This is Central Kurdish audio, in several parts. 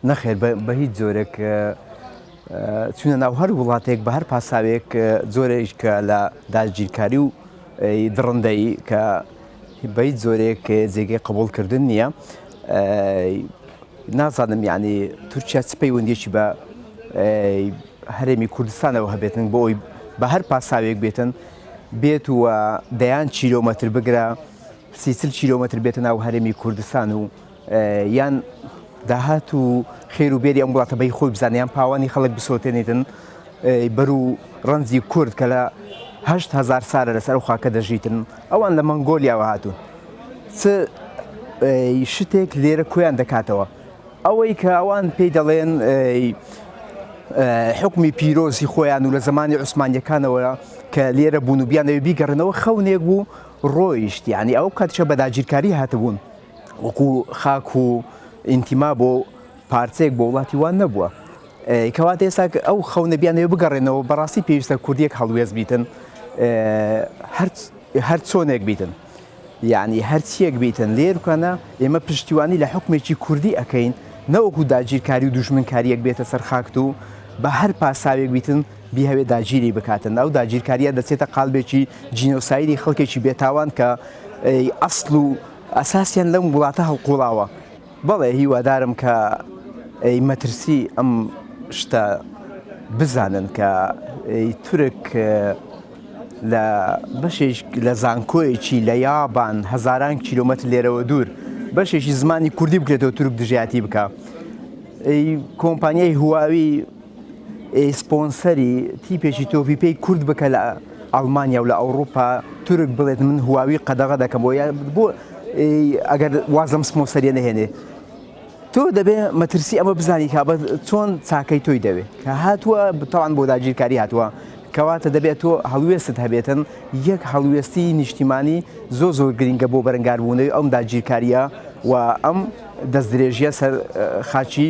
نەخێر بە هیچ جۆرێک چونە ناو هەر وڵاتێک بە هەر پاساوێک جۆرێک کە لە داگیرکاری و دڕندەی کە بە هیچ جۆرێک جێگەی قبولکردن نییە نازانم یعنی تورکیا چ پەیوەندیشی بە هەرێمی کوردستانەوە هەبێتن بۆ ئەوی بە هەر پاساوێک بێتن بێت و دەیان چیرۆمەتر بگرە سی چل کیلۆمەتر بێتە ناو هەرێمی کوردستان و یان داهات و خێر و بێری ئەم وڵاتە بەی خۆی بزانێ یان پاوانی خەڵک بسۆتێنێتن بەرو ڕەنجی کورد کە لە هەشت هزار سارە لەسەر و خاکە دەژیتن ئەوان لە مەنگۆلیاوە هاتوون شتێک لێرە کۆیان دەکاتەوە ئەوەی کە ئەوان پێی دەڵێن حکمی پیرۆزی خۆیان و لە زمانی عوسمانیەکانەوە کە لێرە بوون و بیانەوە بیگەڕنەوە خەونێک بوو ڕۆیشت یانی ئەو کاتیشە بە داگیرکاری هاتبوون وەکو خاک و ئینتیما بۆ پارچەیەک بۆ وڵاتی وان نەبووە کەواتە ئێستا ئەو خەونە بیانەوە بگەڕێنەوە بەڕاستی پێویستە کوردیەک هەڵوێز بیتن هەر چۆنێک بیتن یعنی هەرچیەک بیتن لێرکانە ئێمە پشتیوانی لە حکومێکی کوردی ئەەکەین نەوەکو داگیرکاری و دوژمنکاریەک بێتە سەرخاکت و بە هەر پاساوێک بیتن بیهەوێت داگیری بکاتە ناو داگیرکاریە دەچێتە قالبێکی جینۆسایدی خەڵکێکی بێتاوان کە ئەسڵ و ئەساسیان لەم وڵاتە هەڵقوڵاوە بەڵێ هیوادارم کە مەترسی ئەم شتە بزانن کە تورک لە بەشێک لە زانکۆیەکی لە یابان هەزاران کیلومەتر لێرەوە دوور بەشێکی زمانی کوردی بکرێتەوە تورک دژایەتی بکە کۆمپانیای هواوی سپۆنسەری تیپێکی تۆپی پێی کورد بکە لە ئەڵمانیا و لە ئەوروپا تورک بڵێت من هواوی قەدەغە دەکەم بۆ بۆ ئەگەر وازم سپۆنسەریە نەهێنێ تۆ دەبێ مەترسی ئەمە بزانی کابە چۆن چاکەی تۆی دەوێ کە هاتووە بتەوان بۆ داگیرکاری هاتووە کەواتە دەبێت تۆ هەڵوێستت هەبێتن یەک هەڵوێستی نیشتیمانی زۆ زۆر گرنگە بۆ بەرەنگاربوونەوەی ئەم داگیرکاریە و ئەم دەستدرێژیە سەر خاچی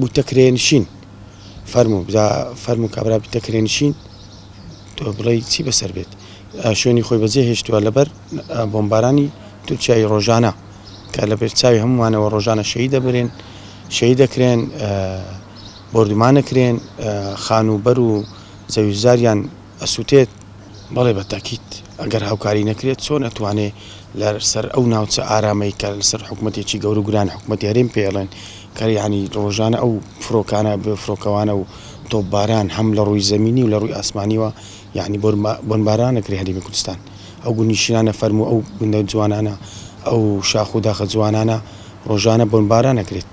بوتە کرێنشین فەرموو جا فەرموو کابرا بتە کرێنشین تۆ بڵێ چی بەسەر بێت شوێنی خۆی بەجێ هێشتووە لەبەر بۆمبارانی تورکیای ڕۆژانە کە لە بێرچاوی هەمووانەوە ڕۆژانە شەی دەبرێن شەی دەکرێن بردومانەکرێن خان و بەر و زەویزاریان ئەسوتێت، بەڵێ بە تەئکید، ئەگەر هاوکاری نەکرێت چۆن ئەتوانێ لە سەر ئەو ناوچە ئارامەی کە لە سەر حکومەتێکی گەورو گران حکومەتی هەرێم پێی ئەڵێن کە یانی ڕۆژانە ئەو فرۆکانە بێ فرۆکەوانە و تۆپ باران هەم لە ڕووی زەمینی و لە ڕووی ئاسمانیوە یانی بۆن باران ئەکرێ هەرێمی کوردستان ئەو گوند نیشینانە فەرموو ئەو گوندە جوانانە ئەو شاخ و داخە جوانانە ڕۆژانە بۆن باران ئەکرێت.